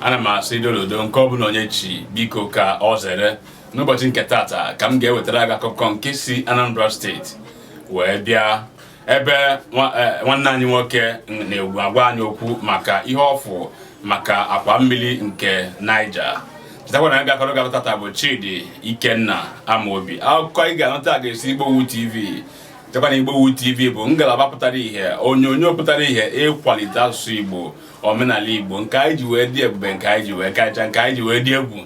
ana m asị dododo nke ọ bụla onye chi biko ka o zere n'ụbọchị nke tata ka m ga-ewetara gị akụkọ nke si Anambra steeti wee bịa ebe e, nwanne anyị nwoke na-agwa anyị okwu maka ihe ọ fụ maka akwa mmiri nke Niger chetakwa na ga-akọrọ gị ya tata bụ Chidi Ikenna Amobi akụkọ ị ga-anụ taa ga-esi Igbowood TV chetakwa na Igbowood TV bụ ngalaba pụtara ihe onyonyo pụtara ihe ịkwalite asụsụ Igbo omenala Igbo nke anyị ji wee dị ebube nke anyị ji wee kacha nke anyị ji wee dị egwu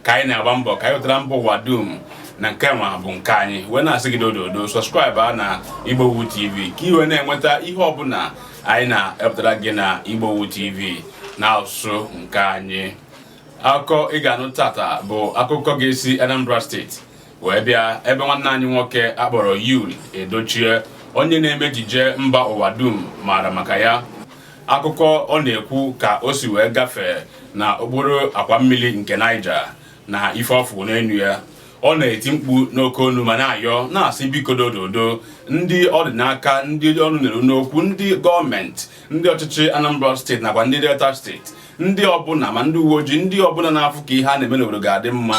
ka anyị na-agba mbọ ka anyị wetara mba ụwa dum na nke nwa bụ nke anyị wee na-asị gị dododo subscribe na Igbowood TV ka i wee na-enweta ihe ọbụla anyị na-ewepụtara gị na Igbowood TV na asụsụ nke anyị akụkọ ị ga-anụ tata bụ akụkọ ga-esi Anambra steeti wee bịa ebe nwanne anyị nwoke a kpọrọ Yul Edochie onye na-eme ejije mba ụwa dum maara maka ya akụkọ ọ na-ekwu ka o si wee gafee na okporo akwa mmiri nke Niger na ife ọ fụ n'enu ya ọ na-eti mkpu n'oke onu ma na-ayọ na-asị biko dododo ndị ọ dị n'aka ndị ọnụ na-eru n'okwu ndị gọọmenti ndị ọchịchị Anambra steeti nakwa ndị Delta steeti ndị ọbụla ma ndị uwe ojii ndị ọbụla na-afụ ka ihe a na-eme n'obodo ga-adị mma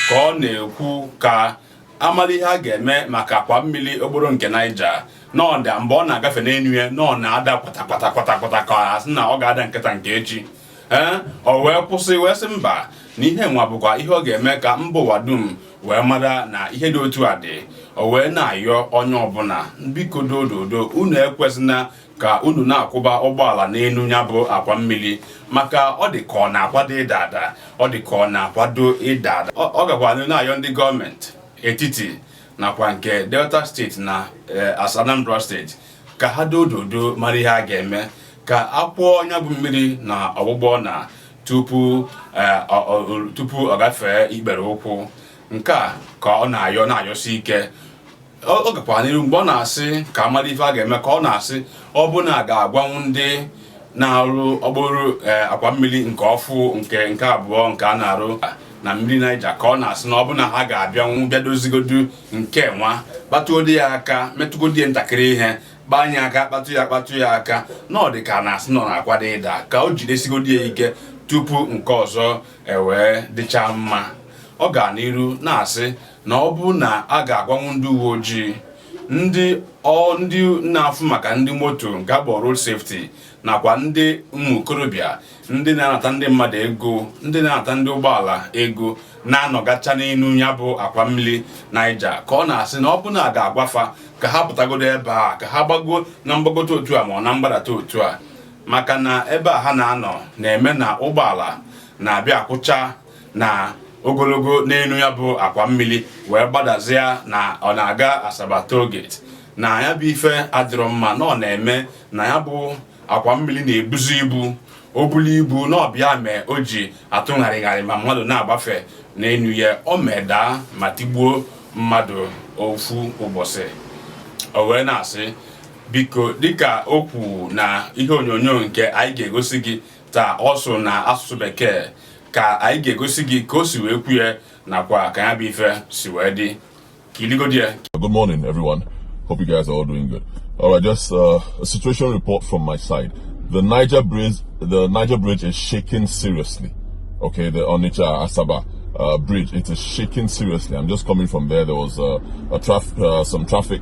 ka ọ na-ekwu ka a mala ihe a ga-eme maka akwa mmiri okporo nke Niger n'ọda mgbe ọ na-agafe n'enu ya na ọ na-ada kwatakwata kwatakwata ka a sị na ọ ga-ada nke taa nke echi ee o wee kwụsị wee sị mba na ihe nwa bụkwa ihe ọ ga-eme ka mba ụwa dum wee mara na ihe dị otu a dị o wee na-ayọ onye ọbụla biko dododo unu ekwezina ka unu na-akwụba ụgbọala n'enu ya bụ akwa mmiri maka ọ dị ka ọ na-akwado ịda ada ọ dị ka ọ na-akwado ịda ada ọ gakwa na-ayọ ndị gọọmenti etiti nakwa nke Delta steeti na eh, As Anambra steeti ka ha dododo mara ihe a ga-eme ka a kwọọ nya bụ mmiri na ọgbụgba ọna tupu eh, tupu ọ gafee ikpere ụkwụ nke a ka ọ na-ayọ na-ayọsi ike ọ gakwa n'iru mgbe ọ na-asị ka a mara ife a ga-eme ka ọ na-asị ọ bụ na a ga-agwanwu ndị na-arụ okporo eh, akwa mmiri nke ọfụ nke nke abụọ nke a na-arụ na mmiri Niger ka ọ na-asị na ọ bụ na ha ga-abịanwu bịa dozigodu nke nwa kpatụgodi ya aka metụgodi ya ntakịrị ihe gbanye aka kpatụ ya kpatụ ya aka na ọ dị ka a na-asị na ọ na-akwado ịda ka o jidesigodi ya ike tupu nke ọzọ ewee dịcha mma ọ ga n'iru na-asị na ọ bụ na a ga-agwanwu ndị uwe ojii ndị ọ ndị na-afụ maka ndị moto nke a kpọ road safety nakwa ndị ụmụ okorobịa ndị na-anata ndị mmadụ ego ndị na-anata ndị ụgbọala ego na-anọgacha n'elu ya bụ akwa mmiri Niger ka ọ na-asị na ọ bụ na a ga-agwafa ka ha pụtagodo ebe a ka ha gbago na mgbagote otu a ma ọ na mgbadata otu a maka na ebe a ha na-anọ na-eme na ụgbọala na-abịa akwụcha na ogologo n'elu ya bụ akwa mmiri wee gbadazịa na ọ na-aga Asaba toll gate na ya bụ ife adịrọ mma na ọ na-eme na ya bụ akwa mmiri na-ebuzi ibu o bulu ibu na ọ bịa mee o ji atụgharịgharị ma mmadụ na-agbafe n'elu ya o mee daa ma tigbuo mmadụ ofu ụbọchị o wee na-asị biko dịka o kwu na ihe onyonyo nke anyị ga-egosi gị taa ọ sụrụ na asụsụ bekee ka anyị ga-egosi gị ka o si wee kwu ya nakwa ka ya bụ ife si wee dị kiligodi ya Good morning, everyone. Hope you guys are all doing good. All right, just uh, a situation report from my side. The Niger Bridge, the Niger Bridge is shaking seriously. Okay, the Onitsha Asaba uh, Bridge, it is shaking seriously. I'm just coming from there. There was uh, a traf- uh, some traffic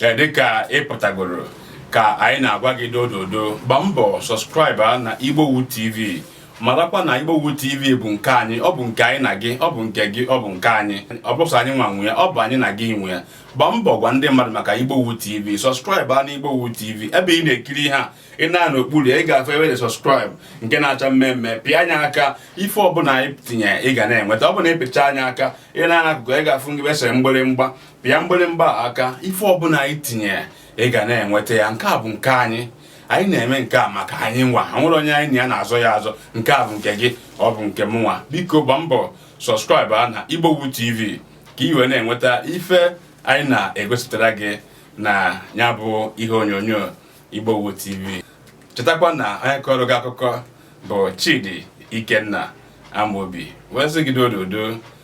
e, dịka ị pụtagoro ka anyị na-agwa gị dododo gba mbọ subscribe na Igbowood TV marakwa na Igbowood TV bụ nke anyị ọ bụ nke anyị na gị ọ bụ nke gị ọ bụ nke anyị ọ bụrọ sọ anyị nwa nwe ya ọ bụ anyị na gị nwe ya gba mbọ gwa ndị mmadụ maka Igbowood TV subscribe a na Igbowood TV ebe ị na-ekiri ihe a ị nee n'okpuru ị ga-afụ ebe subscribe nke na-acha mmee mmee pịa nya aka ife ọbụla anyị tinye ị ga na-enweta ọ bụ na ị pịchaa nya aka ị nee n'akụkụ ị ga-afụ ebe e sere mgbịrịmgba pịa mgbịrịmgba aka ife ọbụla anyị tinye ị ga na-enweta ya nke a bụ nke anyị anyị na-eme nke a maka anyị nwa o nwerọ onye anyị na ya na-azọ ya azọ nke a bụ nke gị ọ bụ nke m nwa biko gba mbọ subscribe a na Igbowood TV ka ị wee na-enweta ife anyị na-egosipụtara gị na ya bụ ihe onyonyo Igbowood TV chetakwa na onye kọrọ gị akụkọ bụ Chidi Ikenna Amobi wee sị gị dododo